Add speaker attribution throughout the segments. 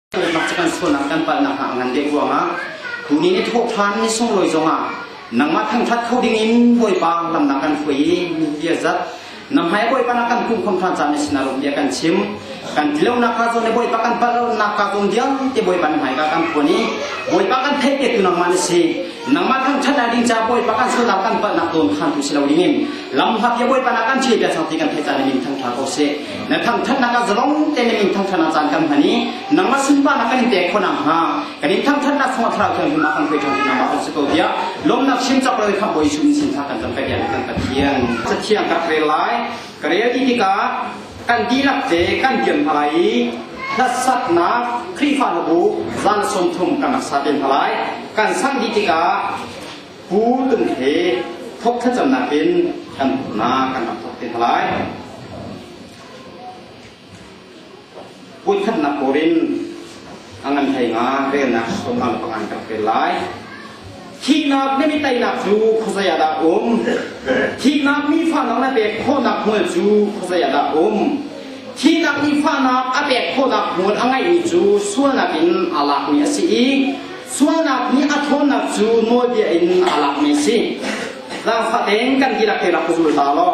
Speaker 1: Tulnak cu kan sualnak kan palhnak hna a ngan deuh ruangah kuni nih thawhṭhan ni sunglawi zongah nangmah thangṭhat kho dingin Bawipa lamnak kan hruai i bia zat namhmai Bawipa nak kan kumkhom ṭhan caan ni sinar bia kan chim kan tilonak ka zawn le Bawipa kan palhnak ka zawn vialte Bawipa nan hmaika kan phuan i Bawipa kan theihte tu nangmah ni si nangmah thangthat ah ding ca bawipa kan sualnak kan palhnak tuan khan tu si lo ding in lamhlat ya bawipa na kan chei piak sang ti kan thei caan na min thangtha ko se na thangthat na kan zalong te na min thangtha na caan kan hmani nangmah sunpa na kan te khona ha kan in thangthat na thong thra thang hima kan kai thang na ma ko se ko dia lom na chim chap roi kha boy sum sin tha kan tam ka dia kan pathian sathiang ka kre lai Ka rel dih tikah kan dihlak te kan tiam hna lai i hlasaknak Khrihfa hna bu zan sawm thum kan rak sa ten hna lai. Kan sang dih tikah pu tung he thok thlacamnak in kan hna kan rak thok ten hna lai. Puikhatnak kor in a ngan hlei nga relnak tonnak le pangan kan pel lai. Thihnak nih mi teinak cu khuazei ah dah um? Thihnak nifahnak le pek khawhnak hmual cu khuazei ah dah um? Thihnak nifahnak a pek khawhnak hmual a ngeihmi cu sualnak in aa lakmi a si i sualnak nih a ṭhawnnak cu nawlbia in aa lakmi a si. Zaangfah tein kan dihlak te rak ka zul ta law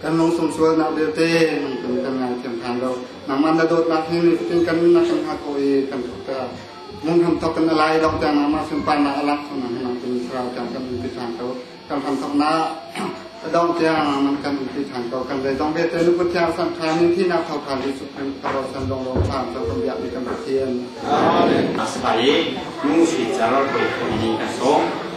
Speaker 1: kan lungsung sualnak vialte nungtum kan ngaithiam than lo nangman na dawtnak hi nitin kan nunnak kan hak ko i kan thukta mun ham thok kan alai dok ta nama simpan na alak suna hi nang kun thra ta kan un pi than to kan ham thok na dong tia man kan un pi than ko kan dai dong be te nu putya san tha ni thi na thau tha li su kan karo san dong lo tha to kan bia ni kan pathian amen asabai nu si jar ko ni kan som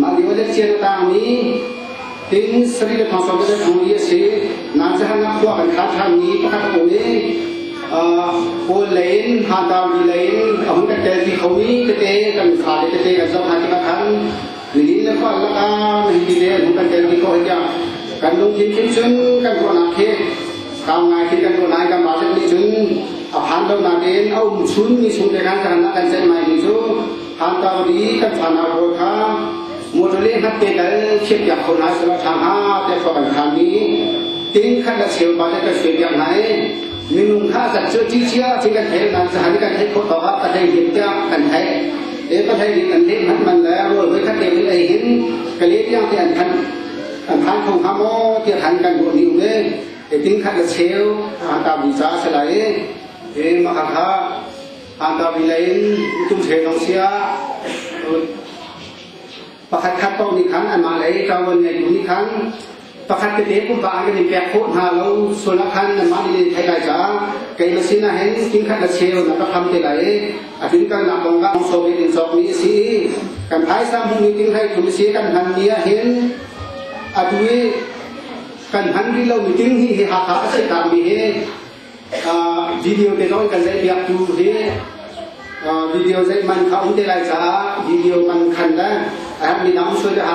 Speaker 1: Mah lio le fian tangmi tin sarih le thong sawm le thong i a si. Nan jahannak khua kan kha thanmi pakhat a um i Paul le in ha Daudi le in a hun kan tel ti khomi tete kan fale tete kan zoh hna tikah khan nihin le khua laka nihin ti le an hun kan tel ti khawh tiah kan lungthin khin cun kan ruahnak khi kau ngai khi kan ruahnai kan mah nih cun a phan lo nakin a um chunmi sung te khan kan kan ceih mai ni cu Hangkang i kan fanau pawl kha motor le hnat te tal khiat piak ko hna sehla ṭha hnga te khua kan khan mi tin khat la cheu pa le kan khia piak hna i minung kha zat cu chi chia thi kan thei nan zahan kan thei khawt tawk ah ka thei him tiang kan thei e ka thei ding an leh man man le rol voi khat te in ei hin ka le tiang te an khan an khan khong ha mo ti han kan ru ni le e tin khat la cheu an ta bi cha se lai e ma kha Andar in tum se dong sia pakhat khat to ni khan anmah lei ṭawan ngei ni khan pakhat te te pumpa an kan in pek khawh hna lo sulak khan anmah ni thai lai ca kei ma sin hen king khat la cheu na ka kham te lai atin kan na kong ga so bit in sok ni si kan phai sa mu ni ting hai thum si kan han ni hin atui kan han ri lo mi ting hi hi ha ha a si ta mi hi video te lawi kan lei biak tu hi video zei man kha um te lai caah video man khan le a mi dang soi te ha